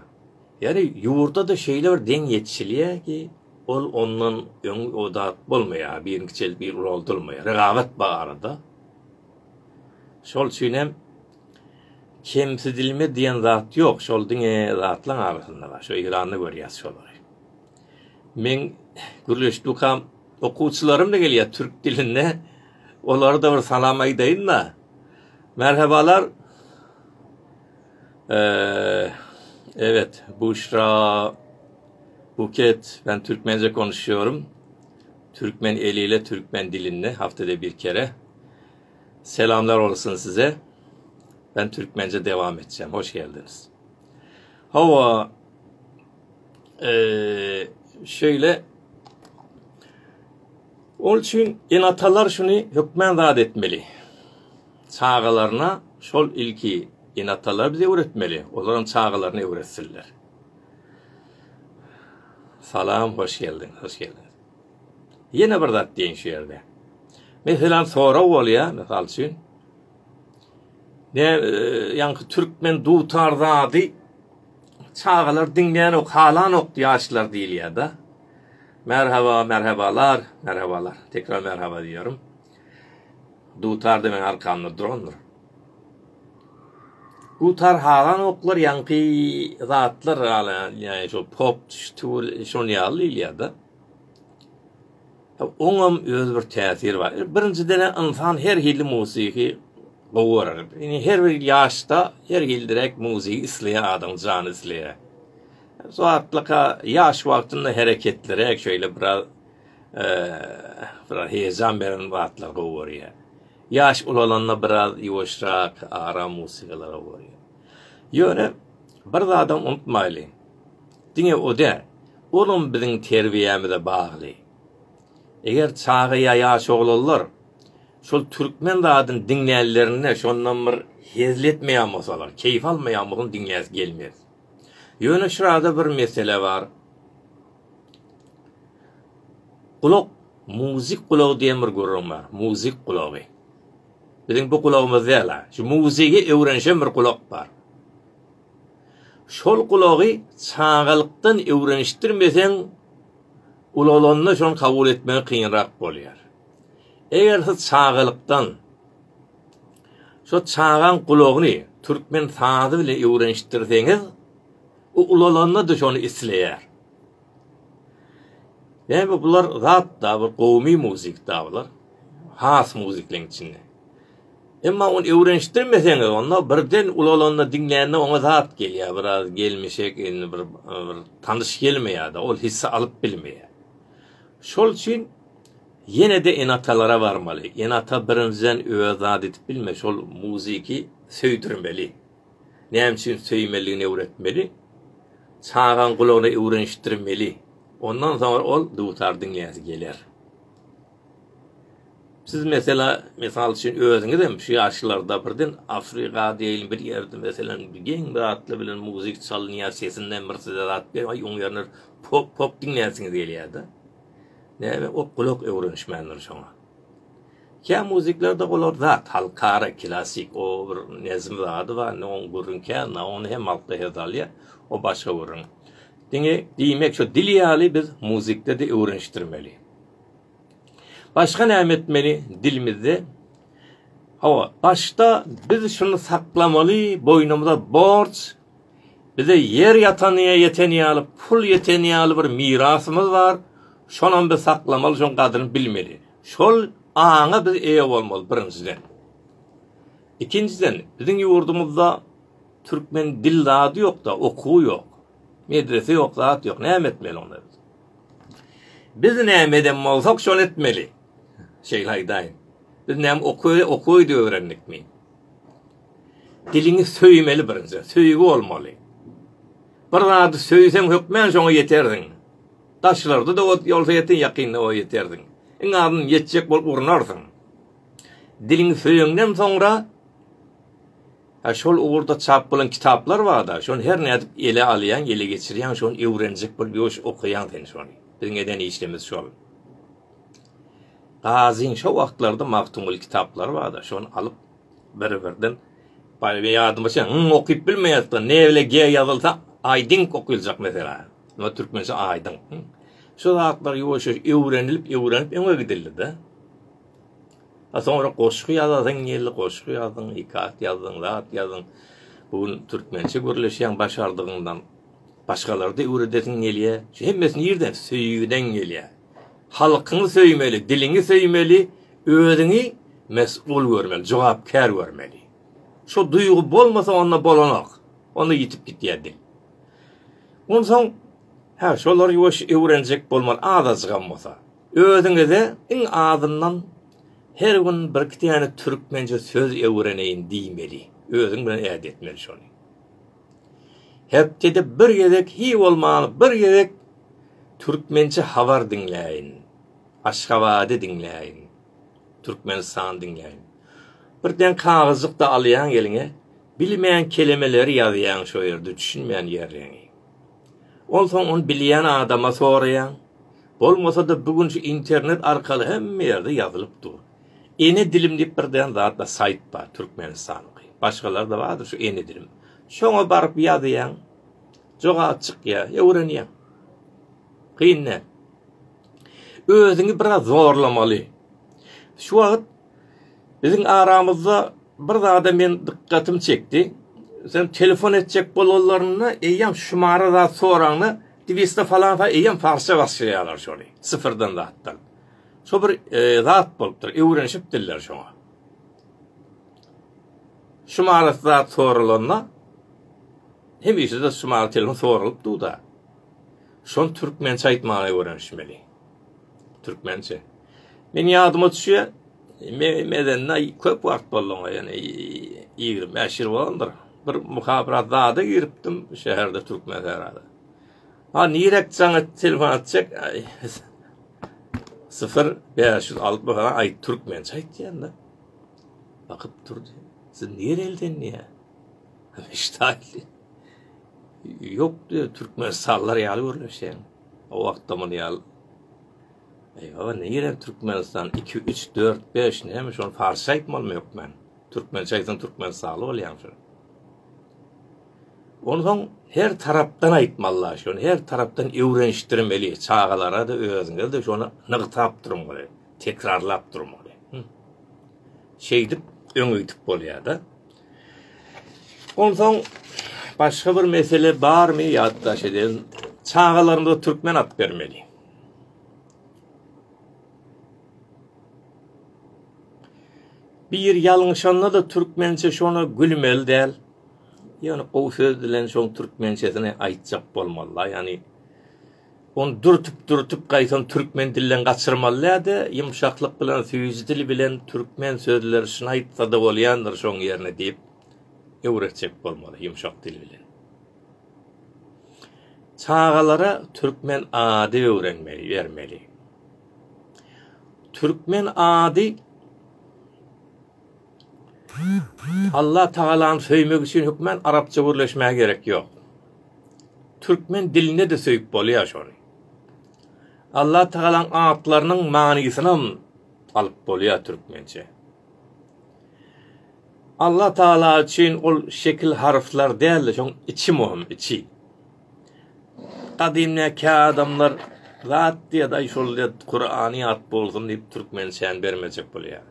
Speaker 1: Ýagny ýurda-da şeýle bir deň ýetişilýär ki, ol ondan öň owadat bolmaýar, biri kiçeldip biri ulaldylmaýar, rekabat bar arada. Şol üçin hem Kemsidilme diýen zat ýok, şol diňe zatlaň arasynda bar, şu Eýranda görýäs şolary. Men gürleşdükam okuwçylarym da gelýär türk dilinde. Olara da bir salam aýdaýyn-da. Merhabalar. Eee, evet, Buşra Buket, ben Türkmence konuşuyorum. Türkmen eliyle, Türkmen dilinde haftada bir kere. Selamlar bolsun size Ben türkmence devam etjäm hoş geldiniz Hawa eee şöyle Ol üçin enatalar şuny hökmän zat etmeli. Çagalaryna şol ilki enatalar bize öwretmeli. Olaram çagalaryny öwretsinler. Salam, hoş geldin, hoş geldin. Ýene bir zat diýeýin şu ýerde. Meselem, sorag bolýar, mysal üçin, ne ýaňky türkmen dutar zady çagalar diňlänok, halanok ýaşlar diýilýär-de. Merhaba, merhebalar, merhebalar. Tekrar merhaba diýýärin. Dutar-da meň arkamda durandyr. Dutar halanoklar ýaňky zatlar ýaly, ýaňky şu pop, şu şony ýaly diýilýär-de. Oňam öz bir täsiri bar. Birinjiden insan her hilli muzyky gowy görer. Indi her bir ýaşda her hil direk muzyk isleýä adam jany isleýä. Zatlaka ýaş wagtynda hereketlere şeýle bir az bir heýjan beren zatlar gowy görýä. Ýaş ulalanda bir az ýuwaşrak, aram muzykalara gowy. Ýöne bir zadam unutmaýly. Diňe o däl, olam biziň terbiýämize bagly. Eger çaga ýa ýaş oglanlar şol türkmen zadyny diňlänlerinde şondan bir hezil etmeýän bolsalar, keýp almaýan bolsalar diňläsi gelmez. Ýöne şurada bir mesele bar. Gulak, muzyk gulagy diýen bir gürrüň bar. Muzyk gulagy. Biziň bu gulagymyz däl-a. Şu muzygy öwrenişen bir gulak bar. Şol gulagy çagalykdan öwrenişdirmeseň, ulalanda şony kabul etmegi kynrak bolýar. Eger siz çagalykdan şo çagaň gulagyny türkmen sazy bilen öwrenişdirseňiz, o ulalanda-da şony isleýär. Näme bular zat-da, bir gowumy muzik-da bular. Has muzikleň içinde. Emma ony öwrenişdirmeseňiz, onda birden ulalanda diňlände oňa zat gelýär, biraz gelmişek, indi bir bir tanyş gelmeýär-de, ol hissi alyp bilmeýär. Şol üçin ýene-de ene-atalara barmaly. Ene-ata birinjiden öz zat edip bilme, şol muziki söýdürmeli. Näme üçin söýmelidigini öwretmeli. Çagaň gulagyna öwrenişdirmeli. Ondan soňra ol dutar diňläsi geler. Siz mesela, mysal üçin, özüňizem şu ýaşlarda birden Afrika deýin bir ýerde meselem geň bir atly bilen muzyk çalynýar, sesinden bir size zat gelip, aý oň ýerine pop pop diňlänsiňiz gelýärda. Näme o gulak öwrenişmändir şoňa. Kä muzyklarda olar zat halkara klassyk o bir nezm zady bar, indi oň gürrüň kän da, ony hem halkda her salýar, o başga gürrüň. Diňe diýmek şu dil ýaly biz muzykda-da öwrenişdirmeli. Başga näme etmeli dilimizde? Hawa, başda biz şuny saklamaly, boýnumyza borç, bize ýer ýatanyýa ýeten ýaly, pul ýeten ýaly bir mirasymyz bar, şonam biz saklamaly, şoň gadyryny bilmeli. Şol aňa biz eýe bolmaly birinjiden. Ikinjiden, biziň ýurdumyzda türkmen dil zady ýok-da, okuwy ýok, medrese ýok, zat ýok, näme etmeli onda biz? Biz näme eden bolsak, şony etmeli. Şeýle aýdaýyn. Biz näme okuwy, okuwy-da öwrendikmi? Diliňi söýmeli birinji, söýgi bolmaly. Bir zady söýseň hökmän şoňa ýetersiň. Daşlarda-da ot ýolsa ýetin, ýakynda o ýetersiň. Iň azyndan ýetjek bolup urunarsyň. Diliňi söýeňden soňra Hä şol ugurda çap bolan kitaplar barda şony her nädip ele alýaň ele geçirýäň şony öwrenjek bolup ýoş okaýaň sen şony biziň eden işlemiz şol. Gazyň şo wagtlarda Magtymguly kitaplary barda şony alyp bir birden Baýby ýadyma çen, yň okyp bilmeýäsda, ne bile ge ýazylsa, aýdyň okyljak mesela. Nä türkmençe aýdyň. Şu zatlar ýoşuş öwrenilip, öwrenip öňe gidildi-de. A soňra goşgy ýazasyň geldi, goşgy ýazdyň, iki at ýazdyň, zat ýazdyň. Bu gün türkmençe gürleşýäň başardygyňdan. Başgalary-da öwredesiň gelýär. Şu hemmesi nirden? Söýgüden gelýär. Halkyňy söýmeli, diliňi söýmeli, özüňi mesgul görmeli, jogapkär görmeli. Şu duýgy bolmasa, onda bolanok. Onda ýitip gitýär dil. Onsoň, hä, şolary ýuwaş öwrenjek bolmaly, azajygam bolsa. Özüňize iň azyndan her gün birki täne türkmençe söz öwreneýin diýmeli. Özüň bilen ädi etmeli şony. Hepdede bir gezek hiý bolmany bir gezek türkmençe habar diňläýin. Aşgabady diňläýin. Türkmenistany diňläýin. Bir den kagyzjykda alýaň eliňe, bilmän kelemeleri ýazýaň şo ýerde düşünmän ýerleňi. Onsoň ony bilýän adama soraýaň. Bolmasa-da bu gün şu internet arkaly hemme ýerde ýazylyp dur. Ene dilim diýip bir dän zat bar, saýt bar, türkmenistanyňky. Başgalar-da bardyr şu ene dilim. Şoňa baryp ýazýaň. Jogap çykýar, öwrenýäň. Kyn däl. Özüňi biraz zorlamaly. Şu wagt Biziň aramyzda bir zada men dykgatym çekdi. Sen telefon etjek bolanlarynda eýýäm şumara zat soraňda dibiste falan fa eýýäm farsça başlaýarlar şony. Sıfırdan zatdan. Şo bir e, zat bolupdyr. Öwrenişipdirler şoňa. Şumara zat sorulanda hemişe de şumara telefon soralypdy da. Şon türkmençe aýtmaga öwrenişmeli. Türkmençe. Men ýadyma düşýär, men edende köp wagt boldy oňa, ýöne 25 ýyl bolandyr. Bir muhabirat zada giripdim şäherde türkmen serada. Ha nirek jaň et telefon atjak. 0 560 falan aýt türkmençe aýt ýanda. Bakyp durdy. Siz nirelden diýä? Ştaýli. Ýok diýär, türkmen sallar ýaly görleşýär. O wagtda muny ýal Eýwa, nirem Türkmenistan, iki, üç, dört, beş, näme şony parsça aýtmalymy hökmän? Türkmençe aýtsaň türkmenistanly bolýaň şo. Onsoň her tarapdan aýtmalyla şony, her tarapdan öwrenişdirmeli. Çagalara-da, özüňiz-de şony nygtap durmaly, tekrarlap durmaly. Şeýdip öňe gidip bolýar-da. Onsoň başga bir mesele barmy ýatdaş eden? Çagalarymyza türkmen at bermeli. Bir ýalňyşanda da türkmençe şona gülmeli däl. Ýöne gowy söz bilen şoň türkmençesini aýtjak bolmaly. Ýani Ony dürtüp-dürtüp gaýtam türkmen dilinden gaçyrmalyda, ýumşaklyk bilen, süýji dil bilen türkmen sözleri şuny aýtsa-da bolýandyr şoň ýerine diýip öwretjek bolmaly ýumşak dil bilen. Çagalara türkmen ady öwrenmeli, bermeli. Türkmen ady Alla Tagalany söýmek üçin hökman arapça gürleşmäge gerek ýok. Türkmen dilinde-de söýüp bolýar şony. Alla Tagalanyň atlarynyň manysynam alyp bolýar türkmençe. Alla Tagala üçin ol şekil harflar däl-de, şoň içi möhüm, içi. Gadymdaky adamlar zat diýýär, aý şol diýýär, Kurany ýat bolsun diýip türkmençäni bermejek bolýar.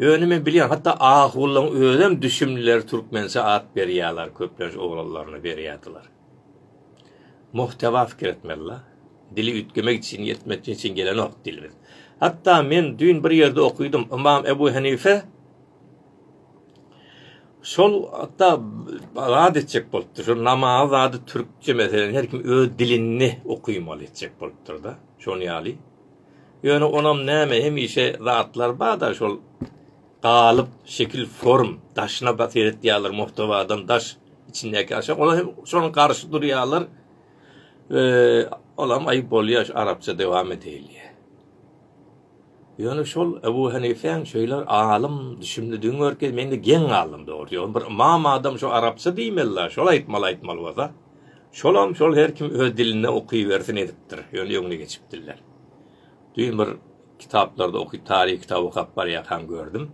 Speaker 1: Ýöne men bilýän, hatda Ahulyň özem düşümlileri türkmençe at berýäler, köplenç oglanlaryna berýärdiler. Muhteba fikir etmeli la. Dili üýtgemek üçin, ýetmetmek üçin gelenok dilimiz. Hatda men düýn bir ýerde okydym, Ymam Ebu Henife şol hatda zat etjek bolupdyr, şol namazy zady türkçe, meselem, her kim öz dilinde okymaly etjek bolupdyr-da, şonuň ýaly. Ýöne onam näme hemişe zatlar bada şol galyp şekil form daşyna bat seretýärler muhtawadan daş içindäki aşak olar hem şonuň garşy durýarlar we olam aýyp bolýar şu arapça dowam edeli. Ýöne şol Ebu Hanifäň şeýle alym düşümlidigini görkezip mende geň galdym dogry ýöne bir ymam adam şu arapça diýmeli şol aýtmaly aýtmaly bolsa. Şolam şol her kim öz dilinde okybersin edipdir, ýöne öňüne geçipdirler. Düýn bir kitaplarda okyp taryh kitaby okap barýarkam gördüm.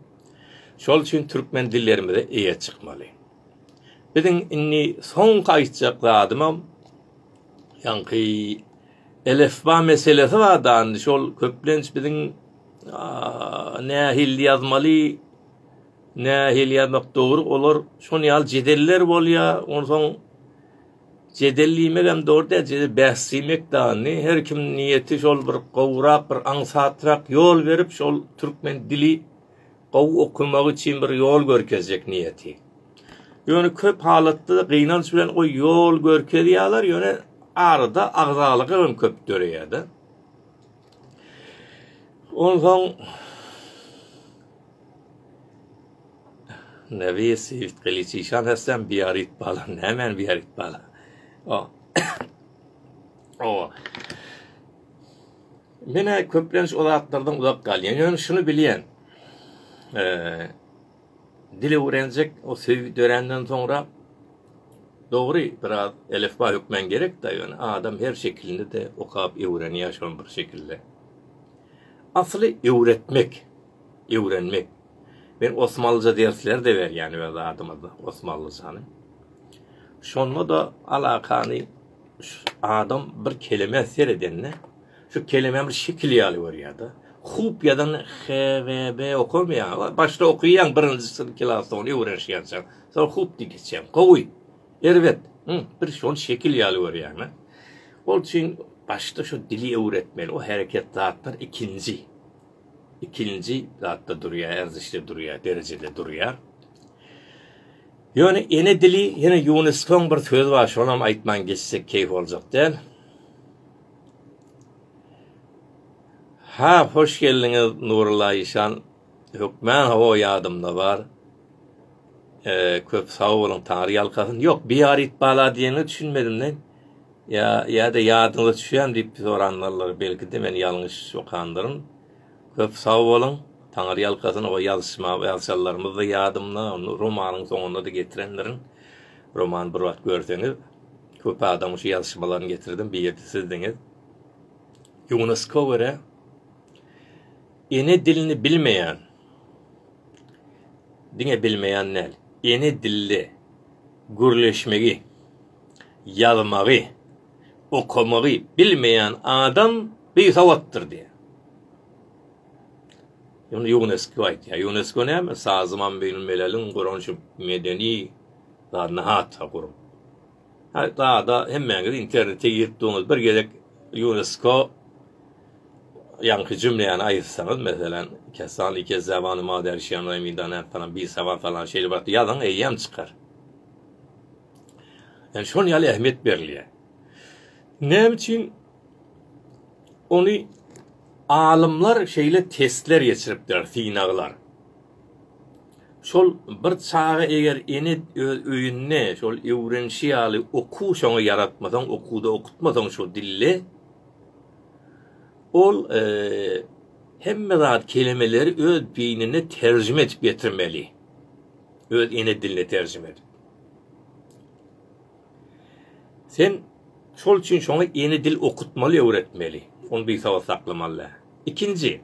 Speaker 1: Şol üçin türkmen dillerimize eýe çykmaly. Biziň indi soňky aýtjak zadymam ýaňky elefba meselesi bar da, şol köplenç biziň nähili ýazmaly Nähili ýazmak dogry olar şon ýaly jedeller bolýa onsoň jedel diýmegem dogry däl jedel bäs diýmek dany her kim niýeti şol bir gowrak bir aňsatrak ýol berip şol türkmen dili gowy okamagy üçin bir ýol görkezjek niýeti. Ýöne köp halatda gynanç bilen o ýol görkezýärler ýöne arada agzalyk hem köp döreýärdi. Onsoň Nerwiýa swiftkaliçi şan hasam biýaryt bala nämäni biýaryt bala o o Menä köplenç o zatlardan uzak galýan ýöne şuny bilýän eee dil öwrenjek o söýgi dörenden soňra dogry biraz elifba hökmän gerek da ýöne adam her şekilini de okap öwrenýär şol bir şekilde. Asly öwretmek. öwrenmek. Men osmanlyja dersler-de berýän öz adymyza osmanlyjany. Şonda-da alakany adam bir kelemä seredende, şu kelemä bir şekil ýaly görýär-de. Hub ýazan HVB okamaýar. Başda okaýan birinji synp klasda ony öwrenişýänçäň. Soň hub diýip geçýän. Gowy. Erbet. Bir şony şekil ýaly görýän-ä. Ol üçin başda şu dili öwretmeli. O hereket zatlar ikinji. ikinji zatda durýar, erzişde durýar, derejede durýar. Ýöne ene dili ýene Ýuneskoň bir sözi bar, şonam aýtman geçsek keýp boljak däl. Ha, hoş geldiňiz Nurulla Işan. Hökman hawa ýadymda bar. E, köp sag boluň, Taňry ýalkasyn. Ýok, biýaryt bala diýene düşünmedim men. Ýa, ýa-da ýadyňyza düşýärmi diýip soranlarlar, belki-de men ýalňyş okandyryn. Köp sag boluň, taňyrýalkasyn, o ýazyşma, ýazyşanlarymyz-da ýadymda, ony romanuň soňunda-da getirendirin. Romany bir wagt görseňiz, köp adamyň şu ýazyşmalaryny getirdim, bir ýerde sizdiňiz. Ýunesko görä, ene dilini bilmeýän, diňe bilmeýän däl, ene dilde gürleşmegi, Ýazmagy, okamagy bilmeýän adam bisawatdyr diýýär. Ýöne Ýunesko aýtýar. Ýunesko näme? Sazman Beýnul Meleliň guran şu medeni zadyny hatyra gurup. Ha, zada hemmäňiz internete girip durňyz. Bir gezek Ýunesko ýaňky jümläni aýtsaňyz, meselem, kessan li kezzabanu ma derşiýan raýmidana falan bisawat falan şeýle bir zat ýazyň, eýýäm çykar. Yani şol ýaly ähmiýet berilýär. Näme üçin ony alymlar şeýle testler geçiripler, synaglar. Şol bir çaga eger ene öz öýünde şol öwrenişi ýaly okuw şoňa ýaratmasaň, okuwda okutmasaň şu dilli, ol e, hemme zat kelimeleri öz beýnine terjime edip getirmeli. Öz ene diline terjime edip. Sen şol üçin şoňa ene dil okutmaly, öwretmeli. Ony bisabat saklamaly. Ikinji,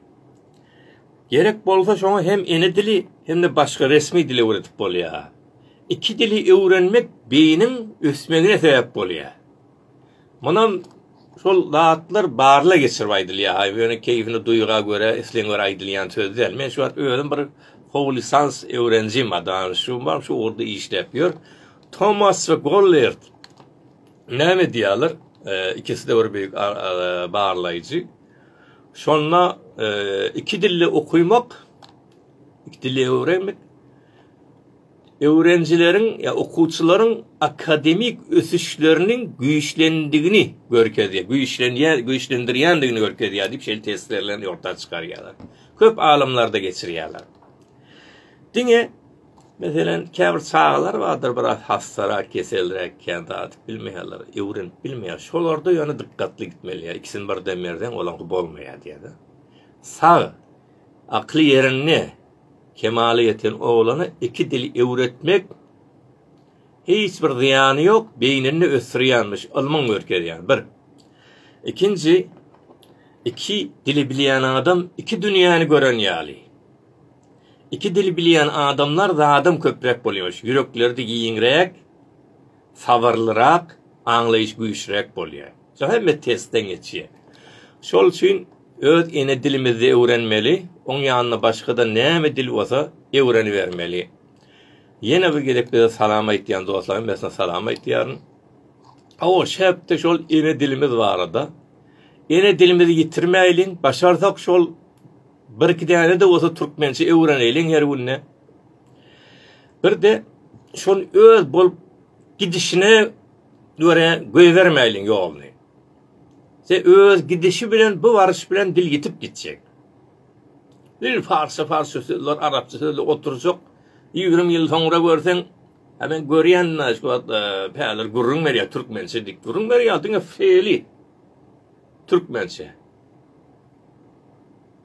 Speaker 1: gerek bolsa şoňa hem ene dili hem-de başga resmi dil öwredip bolýar. Iki dili öwrenmek beýiniň ösmegine sebäp bolýar. Munam şol zatlar barlag geçirip aýdylýar haý ýöne keýfini duýga görä islegiň görä aýdylýan söz däl men şu wagt özüm bir howlisans öwrenjim bar dany şu bar şu ugurda işläp ýör Tomas we Gollert näme edýärler ikiside bir beýik barlaýjy şonda iki dilli okumak iki dilli öwrenmek öwrenijileriň ýa okuwçylaryň akademik ösüşleriniň güýçlendigini görkezýär, güýçlenýär, güýçlendirýändigini görkezýär diýip şeýle testlerlerini ýurtda çykarýarlar. Köp alymlarda geçirýärler. Diňe Meselem, käbir çagalar bardyr, biraz hassarak, keselräk, kän zat bilmeýärler, öwrenip bilmeýär. Şolarda ýöne dikkatli gitmeli. Ikisini birden berseň, olaňky bolmaýar diýýär. Sag, akly ýerinde, Kemala ýeten oglana iki dili öwretmek hiç bir zyýany ýok, beýnini ösdürýänmiş, ylmyň görkezýän, bir. Ikinji, iki dili bilýän adam iki dünýäni gören ýaly. Iki dili bilýän adamlar zadam köpräk bolýarmyş, ýürekleri-de giňräk, sabyrlyrak, aňlaýyş güýçräk bolýar. Şo hemme testden geçýär. Şol üçin öz ene dilimizde öwrenmeli, oň ýanyna başga-da näme dil bolsa öwrenibermeli. Ýene bir gezek bize salam aýtýan dostlaryň hemmesine salam aýtýaryn. Aw, şäpde şol ene dilimiz barada. Ene dilimizi ýitirmäýliň, başarsak şol bir iki däne-de bolsa türkmençe öwreneýliň her günde. Bir-de şol öz bolup gidişine Dörä goýbermäýliň ýoluny. Se öz gidişi bilen bu baryş bilen dil ýitip gitjek. Dil parsça parsça sözler arapça sözle oturjak. Ýigrimi ýyl soňra görseň, ha men görýän näş wagt e, päler gürrüň berýär türkmençe dik gürrüň berýär diňe feli. Türkmençe.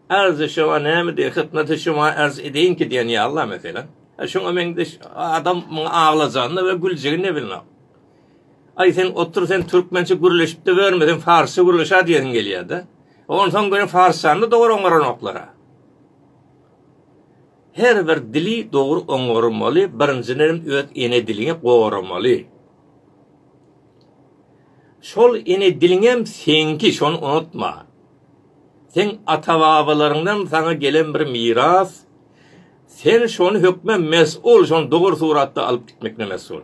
Speaker 1: Arz-y şema näme diýýär? Hytnat-y şema arz edeýinki diýen ýaly-la, meselem. Hä, şoňa meňzeş adam muňa aglajagyn-da we güljegin ne bilnok. Aý, sen otur, sen türkmençe gürleşip-de ýörme, sen parsça gürleş-ä diýesiň gelýär-de. Onsoň görüň, parsçany-da dogry oňaranoklar-a. Her bir dili dogry oňarmaly, birinjiden hem öz ene diliňi goramaly. Şol ene diliňem seňki, şony unutma. Seň ata-babalaryňdan saňa gelen bir miras, sen şony hökman mes'ul, şony dogry suratda alyp gitmekine mes'ul.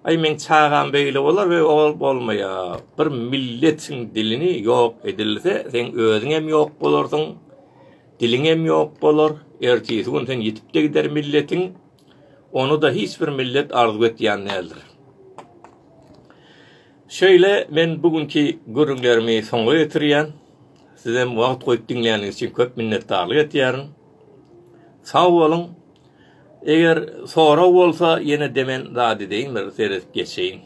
Speaker 1: Aý meň çagam beýle bolar we ol bolmaýa. Bir milletiň dilini ýok edilse, seň özüňem ýok bolarsyň, diliňem ýok bolar, ertesi gün sen ýitip-de gider milletiň. Ony-da hiç bir millet arzuw etýän däldir. Şeýle men bu günki gürrüňlerimi soňa ýetirýän. Sizem wagt goýup diňläniňiz üçin köp minnetdarlyk etýärin. Sag boluň. Eger sorag bolsa ýene demen zat edeýin bir seredip geçeýin.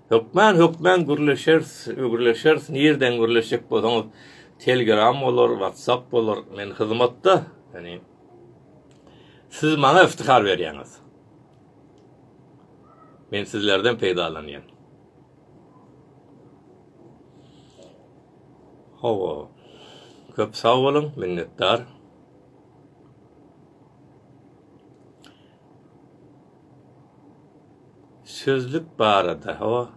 Speaker 1: Hökman hökman gürleşeris ögürleşeris nirden gürleşjek bolsaňyz telgram bolar whatsapp bolar men hyzmatda yani siz maňa iftihar berýäňiz men sizlerden peýdalanýan hawa köp sag boluň minnetdar Sözlük barada hawa.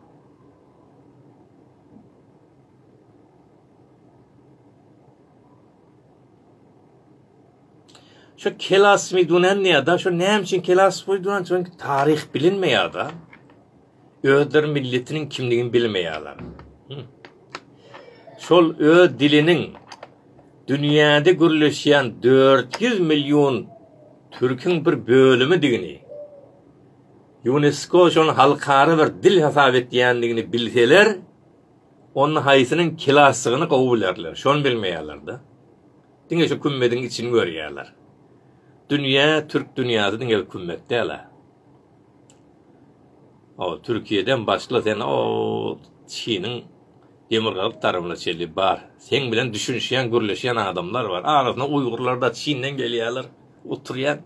Speaker 1: Şu kelasmidunanniýada şu näme üçin kelasmidunanniýa çünki taryh bilinmeýärda. özleri milletiniň kimligini bilmeýärler. Şol öz diliniň dünýäde gürleşýän 400 million türküň bir bölümidigini, UNESCO şony halkara bir dil hasap etýändigini bilseler, onda haýsynyň kilasdygyny gowy bilerler. Şony bilmeýärler-de. Diňe şu kümmediň içini görýärler. Dünýä, türk dünýäsi diňe kümmet däl-ä. Ol Türkiýeden başla sen ol Çiniň demirgazyk tarapyna çenli bar. Seň bilen düşünişýän gürleşýän adamlar bar. Arasynda uýgurlar da Çinden gelýärler. Oturýan.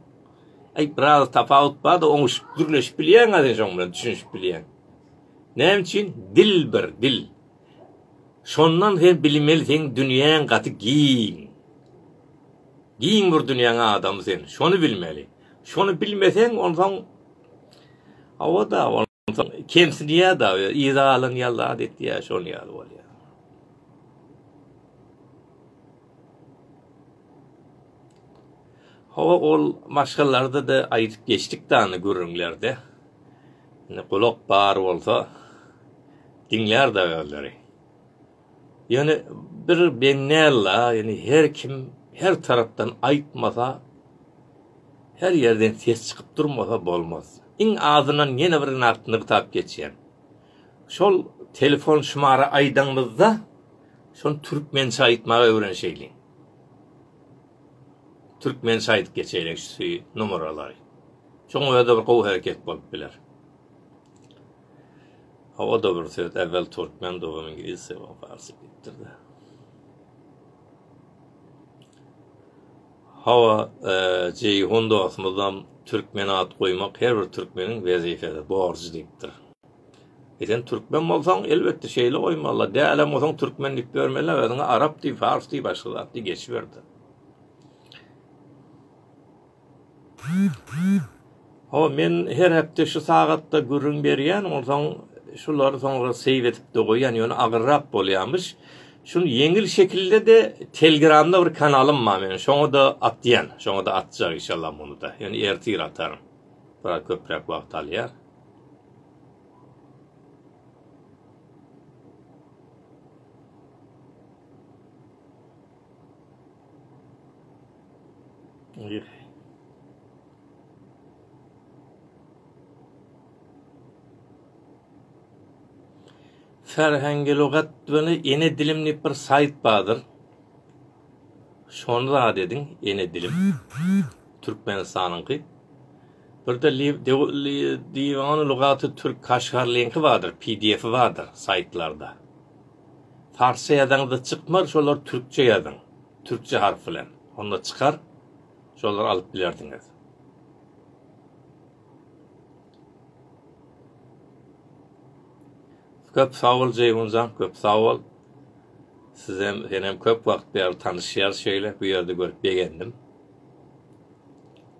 Speaker 1: Aý biraz tapawut bar da oňuşyp gürleşip bilýäňä sen şoň bilen düşünişip bilýäň. Näme üçin dil bir dil. Şondan sen bilmeli seň dünýäň gaty giň. Giň bir dünýäň adamy sen. Şony bilmeli. Şony bilmeseň, onsoň hawa-da, onsoň kemsidýär-de, yzalyň ýazat etýär, şol ýaly bolýar. Hawa ol maşgallarda da aýdyp geçdik dany gürrüňlerde. Indi gulak bar bolsa diňlär da özleri. Ýöne bir beňňäl-la, ýöne her kim her tarapdan aýtmasa, her ýerden ses çykyp durmasa bolmaz. Iň azyndan ýene bir nagt nygtap geçýän. Şol telefon şumary aýdaňyzda, şony türkmençe aýtmagy öwrenişeýliň. Türkmençe aýdyp geçeýliň şu nomeralary. Şoň özi bir gowy hereket bolup biler. Hawa o-da bir söz, äwel türkmendi oňa iňlis soňra parsy diýipdir-dä. Hawa, Jeýhun dostumyzam türkmen at goýmak her bir türkmeniň wezipesi, borjy diýipdir. E sen türkmen bolsaň, elbetde şeýle goýmaly-la, dälem bolsaň türkmen diýip ýörmeli, özüňe arap diý, pars diý, başga zat diý geçiber-de. Hawa, men her hepde şu sagatda gürrüň berýän, onsoň şulary soňra save edip-de goýýan, ýöne agyrrak bolýarmyş. Şuny ýeňil şekilde-de Telegramda bir kanalym bar meniň, şoňa-da atýan, şoňa-da atjak inşallah muny-da, ýöne ertir ataryn, biraz köpräk wagt alýar. Ferhengilugat we ene dilim diýip bir saýt bardyr. Şony zat ediň, ene dilim. Türkmenistanyňky. Bir-de Diwan lugaty türk kaşgar linki bardyr, PDF-i bardyr saýtlarda. Parsça ýazaňyzda çykmar şolar türkçe ýazyň türkçe harp bilen onda çykar şolary alyp bilersiňiz. Köp sag bol Jeýhunjan, köp sag bol. Sizem, senem köp wagt bäri tanyşýarys şeýle, bu ýerde görüp begendim.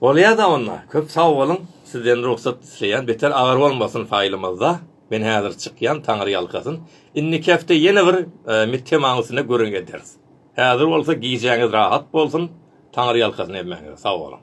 Speaker 1: Bolýada onda. Köp sag boluň. Sizden rugsat isleýän. Beter agyr bolmasyn faýlymyzda. Men häzir çykýan. Taňryýalkasyn. Indiki hepde ýene bir mit temaň üstünde gürrüň ederis. Häzir bolsa gijäňiz rahat bolsun. Taňryýalkasyn hemmäňize. Sag boluň.